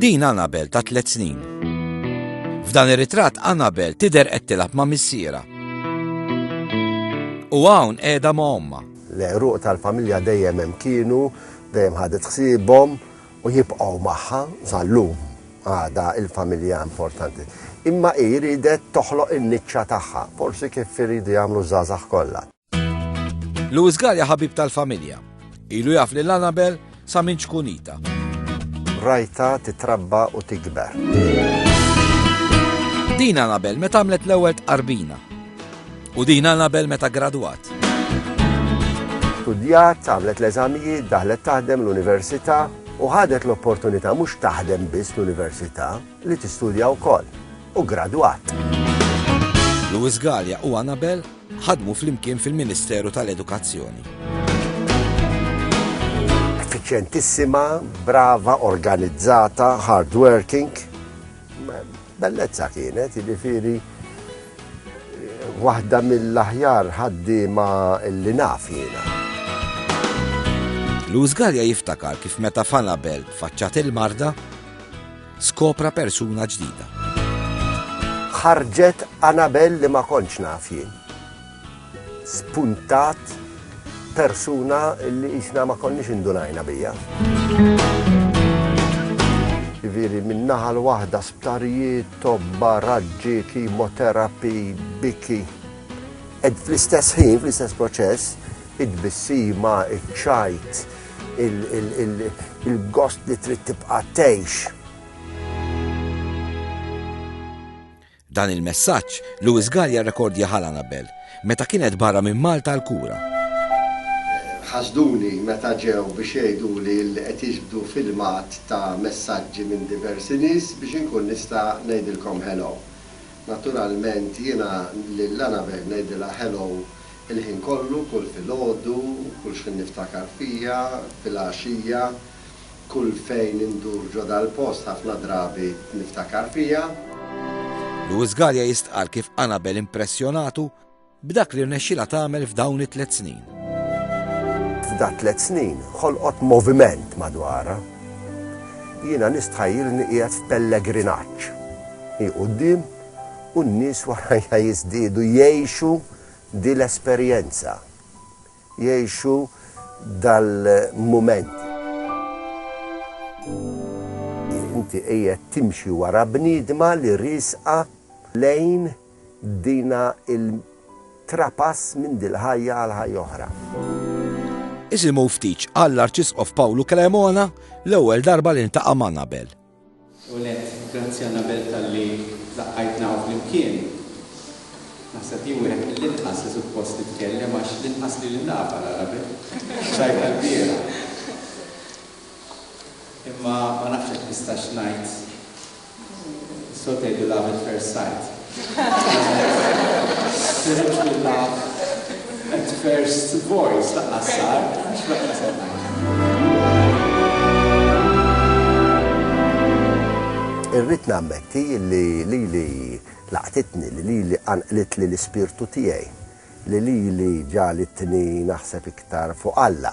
Din Anabel ta' tliet snin. F'dan ir-ritratt Anabel tidher qed tilgħab ma' missiera. U hawn qiegħda ma' ommha. L-għeruq tal-familja dejjem hemm kienu, dejjem ħadet ħsiebhom u jibqgħu magħha sal-lum. Għadha l-familja importanti. Imma hi riedet toħloq in-niċċa tagħha, forsi kif iridu jagħmlu ż-żgħażagħ kollha. Louis Gallia ħabib tal-familja. Ilu jaf lil Annabel sa minn ċkunita. Rajta titrabba u tikber. Din Annabel meta għamlet l-ewwel tqarbina. U din Annabel meta gradwat. Studjat, għamlet l-eżamijiet, daħlet taħdem l-università, u ħadet l-opportunità mhux taħdem biss l-università li tistudja wkoll u gradwat. Louis Gallia u Annabel ħadmu flimkien fil-Ministeru tal-Edukazzjoni. Effiċjentissima, brava, organizzata, hardworking. Bellezza kienet, jiġifieri waħda mill-aħjar ħaddiema li naf jiena. Luz Gallia jiftakar kif meta Fanabel faċċat il-marda Skopra persuna ġdida. Ħarġet Anabel li ma kontx naf jien. Spuntat persuna li isna ma konniex indunajna bija. Ġifieri min-naħa l-waħda sptarijiet, tobba, raġġi, kimoterapi, biki. Ed fl-istess ħin, fl-istess proċess, id-bissima, iċ-ċajt, il-gost li trid tibqa' tgħix. Dan il-messaġġ Lewis Gallia rekordja ħal Anabel meta kienet barra minn Malta għal kura. Ħasduni meta ġew biex jgħiduli li qed jiġbdu filmat ta' messaġġi minn diversi nies biex inkun nista' ngħidilkom hello. Naturalment jiena lil Anabel ngħidilha hello Il-ħin kollu, kull filgħodu, kull xħin niftakar fija, filgħaxija, kull fejn indur ġo dal-post ħafna drabi niftakar fija. Louis Galea jistqarr kif Anabel impressjonatu b'dak li rnexxilha tagħmel f'dawn it-tliet snin. F'da tliet snin ħolqot moviment madwarha. Jiena nistħajjilni qiegħed f'pellegrinaġġ. Hi quddiem u n-nies warajja jiżdiedu jgħixu di l-esperjenza, jgħixu dal-mument. Inti qiegħed timxi wara bniedma li riesqa lejn dina l-trapass minn dil-ħajja għal ħajja oħra. Isimgħu ftit x'qal l-Arċisqof Pawlu Cremona l-ewwel darba li ltaqa' ma' Nabel. L-ewwel nett, grazzi Annabelle talli laqqajtna hawn flimkien. Naħseb jien wieħed mill-inqas li suppost nitkellem għax l-inqas li lil Napal ara b'hekk, rajtha l-bieraħ. Imma ma nafx jekk nistax ngħid, is-soltu jgħidu love at first sight. Sirt tkun taf at first voice lanqas sar, mhux lanqas qed ngħid. Irrid nammetti li lili laqtitni, li lili qanqlitli l-ispirtu tiegħi, li lili ġagħlitni naħseb iktar fuq Alla.